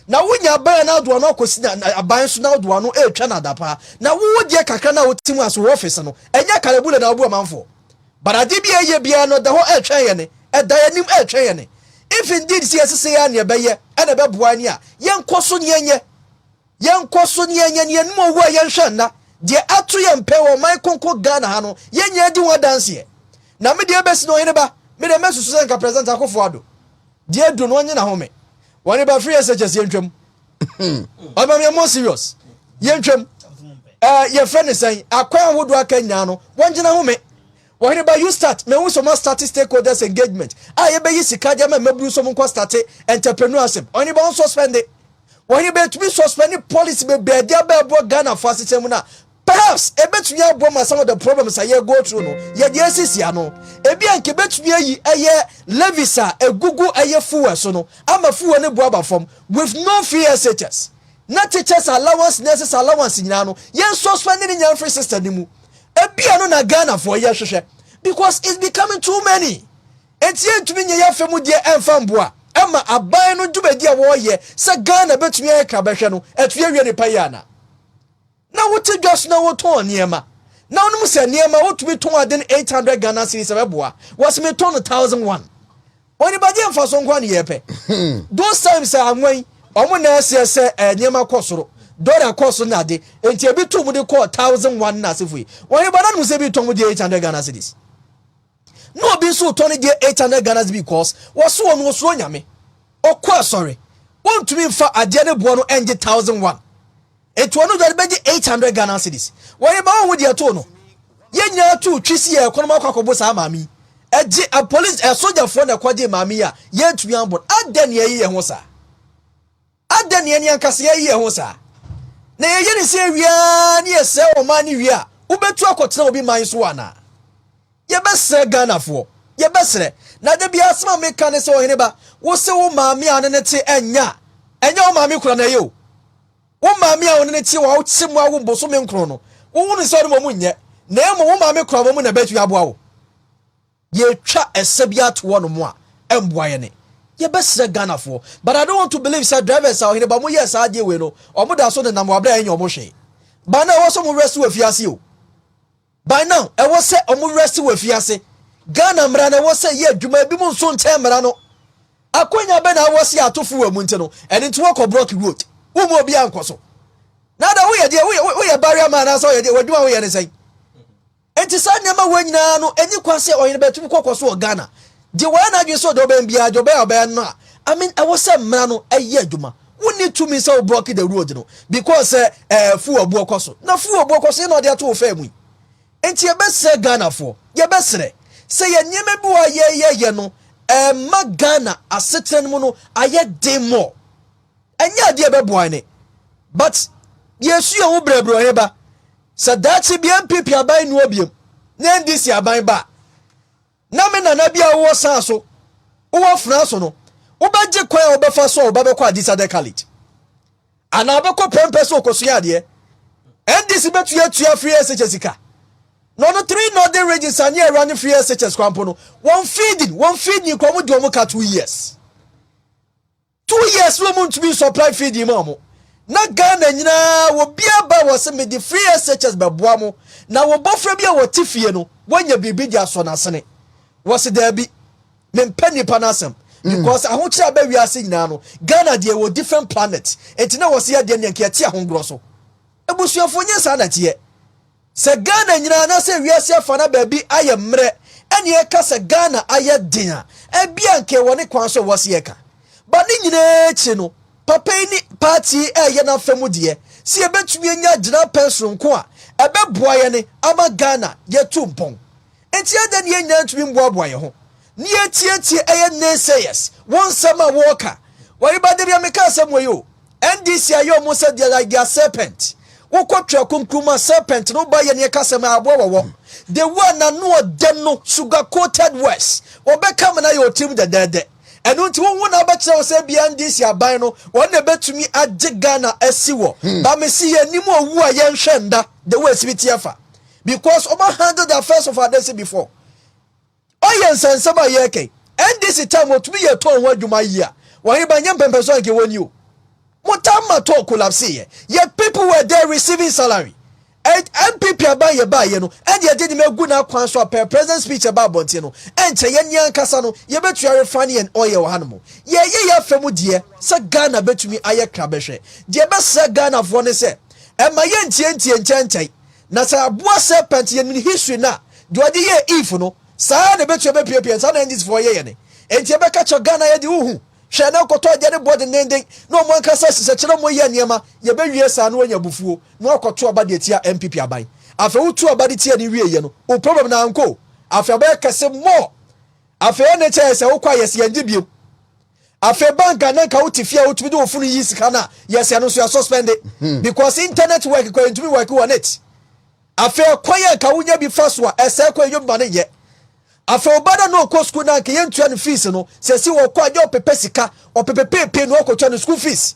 na wonya aban a n'adoa no akɔsi aban so n'adoa no retwa no adapa na wo deɛ kakra no a wote mu ase wɔ ɔfese no ɛnyɛ kalabule na wobu amanfoɔ but adeɛ bi a ɛyɛ biara no ɛda hɔ ɛretwɛn yɛn ne ɛda yɛn anim ɛretwɛn yɛn ne if indeed sɛ yɛsese yɛ a neɛ ɛbɛyɛ ɛna ɛbɛboa ne a yɛnkɔ so ne yɛnyɛ Yɛnkɔ so na yɛnyɛ no yɛn mu owu a yɛnhwɛ nna. Deɛ ato yɛn pɛ wɔ ɔman kronkron Ghana ha no, yɛn nyinaa di ho adanseɛ. Na me deɛ ɛbɛsi na ɔhene ba, me deɛ mɛsusu sɛ nka President Akuffo Addo deɛ adu no ɔnye n'ahome. Ɔhene ba free SHS yɛntwam. Ɔhene ba meyɛ more serious. Yɛntwam. Eh, yɛfrɛ ne sɛn, akwan ahodoɔ aka nyinaa no, wɔngye n'ahome. Ɔhene ba you start, mahu sɛ wɔastarte stakeholders engagement a yɛbɛyi sika de ama mmabunu sɛ wɔnkɔ starte entrepreneurship. Ɔhene ba ɔnsuspɛnde. Wɔn betumi suspɛnde policy bebree de aba ɛboɔ Ghana fo asetena mu na perhaps ebetumi aboa ma some of the problems a yɛ go through no yɛ deɛ esisi ano. Ebi a nka ebetumi ayi ɛyɛ levies a egugu ɛyɛ fuel so no ama fuel no bo aba fam with no fee SHS ne teachers allowance nurses allowance nyinaa no yɛn suspɛnde ne nyinaa mfiri system no mu. Ebi a no na Ghana foɔ yɛ hwehwɛ because it's becoming too many. Enti yɛntumi nyɛ yɛn afa mu deɛ ɛmfa mmoa mma aban no dwumadi a wɔreyɛ sɛ Ghana bɛtumi ayɛ kra bɛhwɛ no atu awie nnepa yi anaa? Na wote dwa so na wotɔn nneɛma na wonom sɛ nneɛma wotumi tɔn ade no 800 Ghana cedis a ɛbɛboa wɔ se metɔ no thousand one ɔnibagyeɛ mfasoɔ nko a ne yɛpɛ those times a anwan ɔmo na ɛseɛ sɛ eh, nneɛma kɔ soro dɔla kɔ so na ade nti ebi to mu de kɔɔ thousand one na asefo yi wɔn ba na nom sɛ bi tɔn mu de 800 Ghana cedis na obi nso retɔ ne deɛ 800 Ghana's because wɔso wɔn wɔsuro nyame ɔkɔ asɔre wɔntumi nfa adeɛ ne boɔ no ɛngye 1000 one ɛti wɔn dware bɛgye 800 Ghana cities wɔyɛ ba wɔn ho deɛ too no yɛn nyinaa too twi si yɛ ɛkɔnɔm akɔ akɔbo saa maame yi ɛgye a police ɛsogyafoɔ na ɛkɔgye maame yi a yɛntumi ambɔ adɛn ne ɛyi yɛ ho saa Adɛn na yɛn ankasa yɛyɛ yɛn ho saa? Na yɛyɛ ne sɛ awie ara ne yɛsɛe ɔman no wie a, wobɛtu akɔtena obi man so anaa? Yɛbɛsrɛ Ghanafoɔ, yɛbɛsrɛ. Na da biara asɛm a meka ne sɛ, Ɔhene ba, wo se wo maame a ne ne te ɛnyɛ a, ɛnyɛ wo maame koraa na ɛyɛ o. Wo maame a wo ne ne te a ɔkyem wo awo bosome nkron no, wohunu sɛ ɔne mmom nyɛ, na mmom wo maame koraa mmom na ɛbɛtumi aboa wo. Yɛtwa ɛsɛ bi ato hɔ nom a ɛmboa yɛn ne yɛbɛsrɛ Ghanafoɔ but I don't want to believe sɛ drivers a ɔhene ba ɔmo yɛɛ saa adeɛ wei no ɔmo da so nenam hɔ aberɛ a yɛnyɛ ɔmo hwee by now ɛwɔ sɛ ɔmo werɛ se wɔ afiase o by now ɛwɔ sɛ ɔmo werɛ se wɔ afiase Ghana mmara no ɛwɔ sɛ yɛ adwuma ebi mo nso nkyɛn mmara no akwanya bɛ na awɔ se ato fo wɔ emu nti no ɛne nti wɔkɔ block road wo mu obi ankɔ so na ada woyɛ deɛ woyɛ barrier man anaasɛ ɔyɛ deɛ wɔ adwuma woyɛ ne sɛn Enti saa nneɛma wei nyinaa no enni kwan sɛ ɔyere betumi kɔ kɔ so wɔ Ghana. Gye wɔyɛ n'adwene sɛ ɔde ɔbɛn biara, gye ɔbɛn a ɔbɛyɛ no a, I mean ɛwɔ sɛ mmara no yɛ adwuma. Wonni tumi sɛ wo broke the road no because sɛ ɛɛ fuw aboɔ kɔ so. Na fuw aboɔ kɔ so yɛ na ɔde ato wo fɛɛ mu yi. Enti yɛbɛsrɛ Ghanafoɔ, yɛbɛsrɛ sɛ yɛ nneɛma bi wɔ a yɛyɛ yɛ no ɛɛma Ghana asetena no mu no ayɛ den more. Ɛnyɛ adeɛ ɛbɛboa ne. But deɛ ɛsu yɛ ho brɛbrɛ ɔhe ba. Sɛ daakye bi NPP aban nni hɔ biom ne NDC aban ba a, na me nana bi a wowɔ saa so, wowɔ fena so no, wobɛgye kwan a wobɛfa so a wo ba bɛkɔ Adisadɛ College? Anaa wobɛkɔ pɛmpɛ sɛ ɔkɔsua adeɛ? NDC bɛtua atua free SHS sika. Na ɔno three northern regions a ne ɛra ne free SHS kwan po no, wɔn feeding, wɔn feed ni kɔ, wɔn di wɔn ka two years. Two years no ɔmo ntumi nsɔplai fiidi ma ɔmo. Na Ghana nyinaa obiara ba wɔ se mede free SHS bɛboa mo na wo bɔfra bi a ɔte fie no wanya biribi de asɔ n'asene. Wɔ se daabi, mempɛ nnipa no asɛm because ahokyere a aba wiase nyinaa no Ghana deɛ ɛwɔ different planet nti na wɔ se yɛdeɛ no yɛnka yɛte ahongorɔ so. Abusuafoɔ nyɛ saa na ɛteɛ. Sɛ Ghana nyinaa anaasɛ wiase afa na baabi ayɛ mmerɛ ɛne yɛka sɛ Ghana ayɛ den a, ɛbia nka ɛwɔ ne kwan so ɛwɔ se yɛka. But ne nyinaa akyire no, papa yi ne party yi ɛɛyɛ n'afa mu deɛ sɛ yɛbɛtumi anya gyinapɛn sononko a ɛbɛboa yɛne ama Ghana yɛtu mpɔn. Nti adɛn ne yɛn nyinaa ntumi mmoaboa yɛn ho ne yɛtietie ɛyɛ naysayers wɔn nsɛm a wɔreka wɔre ba debia meka asɛm wɔ yi o ndc ayɛ ɔmo sɛ deɛ like their serpent wokɔ twɛ kunkuruma serpent no ba yɛ ne ɛka sɛm aboa wɔ wɔm the way nano ɔdɛ no sugar coated words wɔbɛka ma no ayɛ ɔtirim dɛdɛɛdɛ ɛno nti wohu na abɛkyerɛ wo sɛ bia ndc aban no wɔn na ɛbɛtumi agye ghana asi wɔ hmm. ba mesi yɛ anim ɔwu a yɛnhwɛ nda the way ɛsi bi teɛ fa because ɔma handle the affairs of our nation before Ɔyɛ nsa nsɛm a yɛreka yi. NDC time otumi yɛ tour ho adwuma yie a wɔhene ba nyɛ mpɛmpɛ so a nka ɛwɔ ni o. Mo time ma tour collapse yɛ. Yɛ people were there receiving salary. And NPP aban yɛ baa yɛ no ɛna yɛde nneɛma agu na kwan so a per president speech ɛba abɔnten no ɛnkyɛ yɛ ne ankasa no yɛbɛtua refine yɛn oil wɔ ha nom. Yɛyɛ yɛ afɛ mu deɛ sɛ Ghana bɛtumi ayɛ kra bɛhwɛ. Deɛ ɛbɛsra Ghana foɔ ne sɛ ɛma yɛntie ntie nkyɛnkyɛn Na sɛ aboa serpent yɛ nin history no a, deɛ ɔde yɛɛ Eve no, saa ara na ɛbɛtua bɛpia pia yɛn, saa na Indies foɔ yɛ yɛn. Enti ɛbɛka kyerɛ Ghana yɛ deɛ wohu, hwɛ na nkɔtɔ agya ne boɔ dendenden na ɔmo ankasa sesa kyerɛ ɔmo yɛ nneɛma, yɛbɛwie saa na wanya abufuo na wakɔto aba de atia NPP aban. Afei wotu aba de tia no wie yɛ no, wo problem no ankɔ o, afei abɛyɛ kɛse more, afei ɛna ɛkyɛ yɛ sɛ wokɔ a yɛse yɛngye biom. Afei bank a na nka wote fie a wotumi de wo funu yi sika no a, yes ɛno nso yɛ suspend hmm. because internet work kɔ yɛntumi work on it. Afei ɛkwan yɛ nka wonya bi fa so a ɛsɛ kɔ yɛnyɛ bi ma no nyɛ. Afei ɔba dɛ na ɔkɔ sukuu na nka yɛntua no fees no, sɛsi wɔkɔ a nyɛ ɔpepɛ sika, ɔpepepepee na ɔkɔtua no school fees.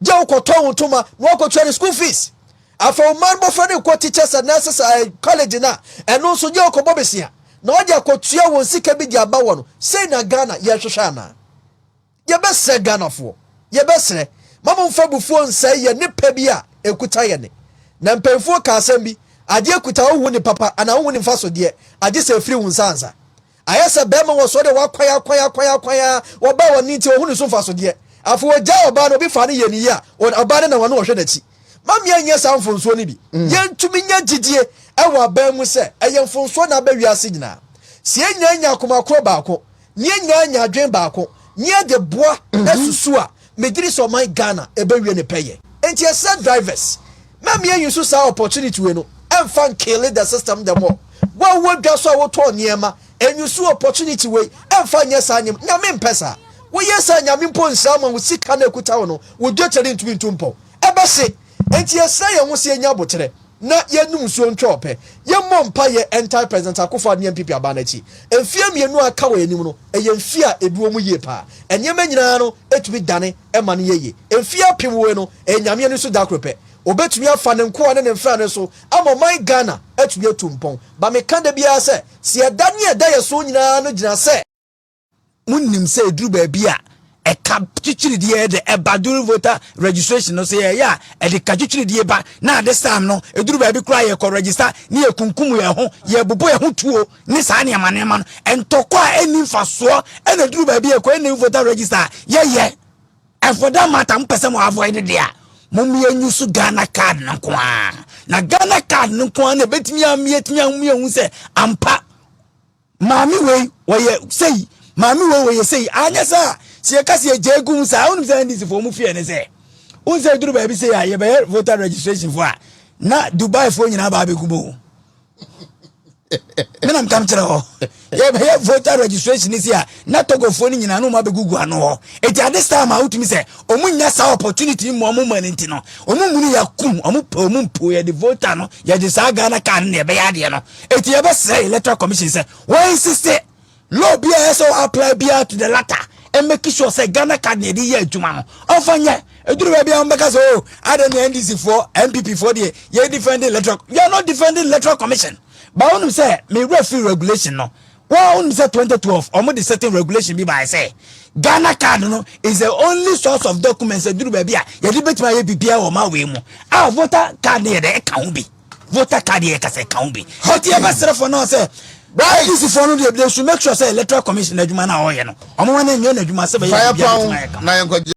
Gye wo kɔ tɔn wo ntoma na wakɔ tua ne school fees. Afei wo man bɔfra no nkɔ teachers and nurses eh, college no a, ɛno nso gye wo kɔ bɔ besia na ɔde akɔ tua wɔn sika bi de aba wɔ no. Sei na Ghana yɛ hwehwɛ anaa? Yɛ bɛ srɛ Ghanafoɔ, yɛ bɛ srɛ, ma mo nfa abufuo nsɛe yɛn ne pɛ bi a ɛkuta yɛn ne. Na mpanyinfoɔ ka asɛm bi, adeɛ kuta wo hu ne papa anaa wo hu ne nfasodeɛ, agye sɛ ɛfiri wo nsa ansa. Ayɛ sɛ bɛɛma wɔ sɔɔ dɛ wɔakwan akwan akwan akwan aa wɔbaa hɔ no ntsi onnhu no so mfasodeɛ. Afei wɔgyaa ɔbaa no, obi faa no yɛɛ no yie a, ɔn ɔbaa no na wɔn na wɔhwɛ n'akyi. Ma me annyɛ saa mfonsoɔ no bi. Yɛntumi nya gyidie wɔ aban mu sɛ ɛyɛ mfonsoɔ na aba wiase nyinaa. Sɛ yɛn nyinaa nya akoma korɔ baako, na yɛn nyinaa nya adwene baako, na yɛde boa susu a, megye di sɛ ɔman Ghana ɛbɛwie ne pɛyɛ. Enti yɛsrɛ drivers, mma mmie use saa opportunity wei no ɛmfa nkille the system the more. Wo a wowɔ dwa so a wotɔn nneɛma, use opportunity wei ɛmfa nyɛ saa nneɛma, Nyame mpɛ saa. Woyɛ saa a Nyame mpo nhyira wo ma wo sika no a ɛkuta wo no, wo dwetɛ rentumi ntu mpɔw. Ɛbɛhye. Enti yɛsrɛ yɛn ho sɛ yɛnyɛ aboterɛ na yɛnnom nsuo ntwa ɔpɛ. Yɛmmɔ mpaeɛ ntaa President Akuffo-Addo ne NPP aban no akyi. Mfeɛ mmienu a aka wɔ yɛn anim no, ɛyɛ mfeɛ a ɛbi wɔ mu yie paa. Nneɛma nyinaa no tumi dane ma no yɛ yie. Mfeɛ apem wei no, ɛyɛ Nyame ani so da koro pɛ. Ɔbɛtumi afa Ne nkoa ne Ne mfrane so ama ɔman Ghana atumi atu mpɔn. Ba meka da biara sɛ, sɛ yɛda ne a ɛda yɛn so nyinaa no gyina sɛ, Monim sɛ ɛduru baabi a ɛka twitwiridie de ɛba during voter registration no sɛ yɛyɛ a ɛde ka twitwiridie ba na ade sam no ɛduru baabi koraa yɛkɔ register ne yɛkunkum yɛn ho yɛbobɔ yɛn ho tuo ne saa nneɛma nneɛma no ntɔkɔ a ɛnni mfasoɔ ɛna ɛduru baabi yɛkɔ ɛnna voter register a yɛyɛ and for that matter mpɛ sɛ mo avoid deɛ a mommea nyu so ghana card no nko ara na ghana card no nko ara na ɛbɛtumi ameatumi ahomi ahu sɛ ampa maame wei wɔyɛ sei maame wei wɔyɛ sei anyɛ sɛ a sɛ yɛka sɛ yɛgya gu mu saa wonim sɛ ndc foɔ mu feɛ ne sɛ wohu sɛ duru baabi sei a yɛbɛyɛ voter registration foɔ a na dubai foɔ nyinaa baa bɛgu mu menam kam kyerɛ hɔ yɛbɛyɛ voter registration ne si a na tɔgɔfoɔ no nyinaa no ma bɛgugu ano hɔ ɛti at this time a wotumi sɛ ɔmo nya saa opportunity mu ɔmo ma no nti no ɔmo munu yɛakum ɔmo pɛ ɔmo mpo yɛde voter no yɛde saa ghana kaa no na yɛbɛyɛ adeɛ no Eti yɛbɛsrɛ electoral commission sɛ wɔn insiste law bi a ɛyɛ sɛ apply biara to the latter and make sure sɛ Ghana card na yɛde yɛ adwuma no ɔmfa nyɛ eduru baabi a wɔbɛka sɛ o oh, adɛ ne NDC foɔ NPP foɔ deɛ yɛ defending electoral you are not defending electoral commission ba wɔn sɛ me referee regulation no wɔn sɛ 2012 wɔn de certain regulation bi baayɛ sɛ Ghana card no is the only source of documents eduru baabi a yɛde betuma yɛ biribiara wɔ maa wei mu a voter card no yɛ dɛ ɛka ho bi. voter card yɛ kasa ɛka ho bi nti yɛbɛsrɛ fo no sɛ bɛyɛ easy fo no deɛ they should make sure sɛ electoral commission adwuma no a ɔyɛ no ɔmo ma no nyɛ no adwuma sɛ bɛyɛ biribi a bɛtumi ayɛ kama